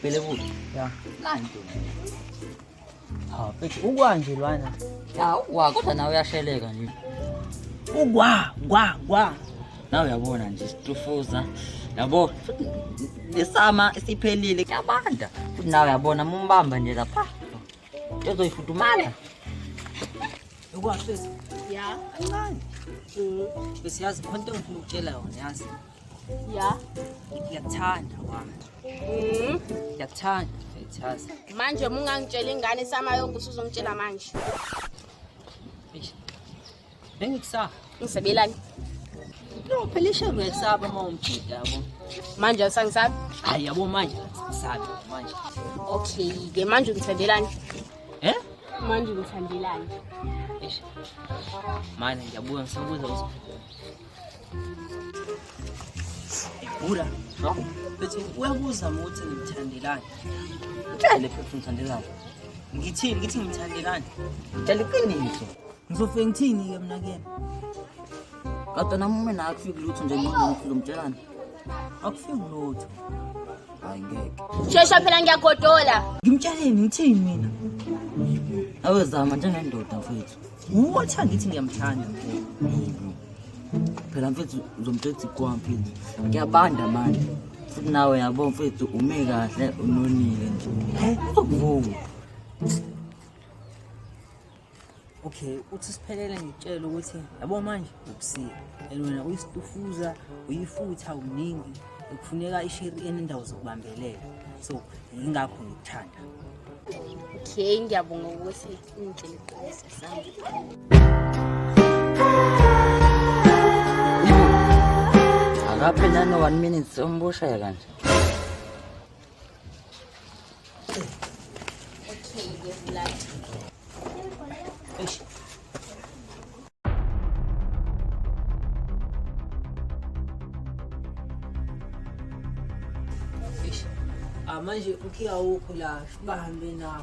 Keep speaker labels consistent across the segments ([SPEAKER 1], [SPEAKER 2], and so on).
[SPEAKER 1] Bele bu. Ya. Lan
[SPEAKER 2] dur. Ha peki ugwa nje lwana. Ya ugwa kodwa
[SPEAKER 1] nawe uyasheleka nje. Ugwa gwa
[SPEAKER 2] gwa. Nawe uyabona
[SPEAKER 1] nje situfuza. Yabo nesama siphelile kuyabanda. Futhi nawe uyabona mumbamba nje lapha. ezoyifudumala
[SPEAKER 2] ukwashisa ya
[SPEAKER 3] kancane
[SPEAKER 2] bese yazi khona into engifuna ukutshela yona yazi ya
[SPEAKER 3] ngiyakuthanda
[SPEAKER 2] wami mm. ngiyakuthanda ngiyithaza manje uma ungangitshela
[SPEAKER 3] ingane isama yonke usuzongitshela manje
[SPEAKER 2] Bengikusaba. Ngisabelani? No, phela ishelo uyayisaba uma umjida yabo. Manje awusangisabi?
[SPEAKER 3] Hayi yabo manje
[SPEAKER 2] sabi manje. Okay,
[SPEAKER 3] ke manje ungithandelani? Eh? Manje ungithandelani? Eish.
[SPEAKER 2] Manje ngiyabuya ngisabuza ukuthi Bura. No. Bethi uyakuzama ukuthi ngimthandelani. Ngitshele
[SPEAKER 1] futhi ngithandelani. Ngithini ngithi
[SPEAKER 2] ngimthandelani? Ngitshela
[SPEAKER 1] iqiniso. Ngizofike ngithini
[SPEAKER 2] ke mina kuyena?
[SPEAKER 1] Kodwa nami uma naye kufika lutho nje ngqondweni ngizomtshelani. Akufiki
[SPEAKER 2] lutho. Hayi
[SPEAKER 1] ngeke. Shesha phela
[SPEAKER 3] ngiyagodola. Ngimtsheleni ngithini
[SPEAKER 2] mina?
[SPEAKER 1] Awezama njengendoda mfethu. Uthi angithi
[SPEAKER 2] ngiyamthanda.
[SPEAKER 1] Phela mfethu uzomthetha ikwa mfethu. Ngiyabanda manje. Futhi nawe yabo mfethu ume kahle unonile nje. Hey, uzokuvuma.
[SPEAKER 2] Okay, uthi siphelele ngitshela ukuthi yabo manje ubusika. And wena uyisitufuza, uyifutha uningi. Kufuneka ishiri enendawo zokubambelela. So, ingakho ngikuthanda.
[SPEAKER 3] Okay, ngiyabonga ukuthi
[SPEAKER 1] Agape na no one minute so mbo siya kan.
[SPEAKER 2] Okay, give blood. Ama je kuki awo kula ba hambe na.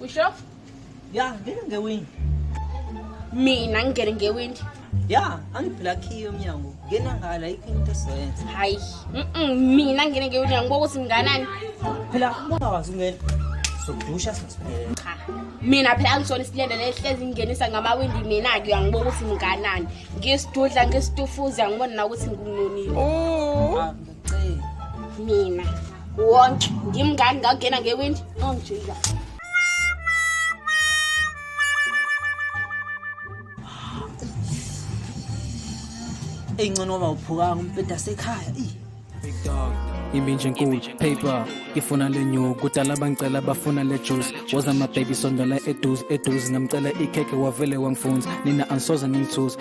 [SPEAKER 3] Usho? Ya,
[SPEAKER 2] ngeke ngewindi.
[SPEAKER 3] Mina ngingene ngewindi. Ya,
[SPEAKER 2] angiphila khiyo umnyango. Ngena ngala ikho into esoyenza. Hayi. Mhm,
[SPEAKER 3] mina ngingene ngewindi ngibuka ukuthi nginganani. Phela ubona
[SPEAKER 2] wazi ungena. Sokudusha sesiphelele. Cha. Mina
[SPEAKER 3] phela angisona isilenda lehlezi ngingenisa ngamawindi mina ke uyangibuka ukuthi nginganani. Ngisidudla ngisitufuza ngibona na ukuthi ngingonile. Oh. Ah, mina wonke ngimngani ngakungena ngewindi
[SPEAKER 2] ongijika eyi ncono waba uphukanga umbheda sekhaya eyi
[SPEAKER 4] iminje enkulu paper ngifuna le new kudala bangicela bafuna le juice woza mababy sondela eduze eduze ngamcela ikhekhe wavele wangifunza nina angisoze ningithuza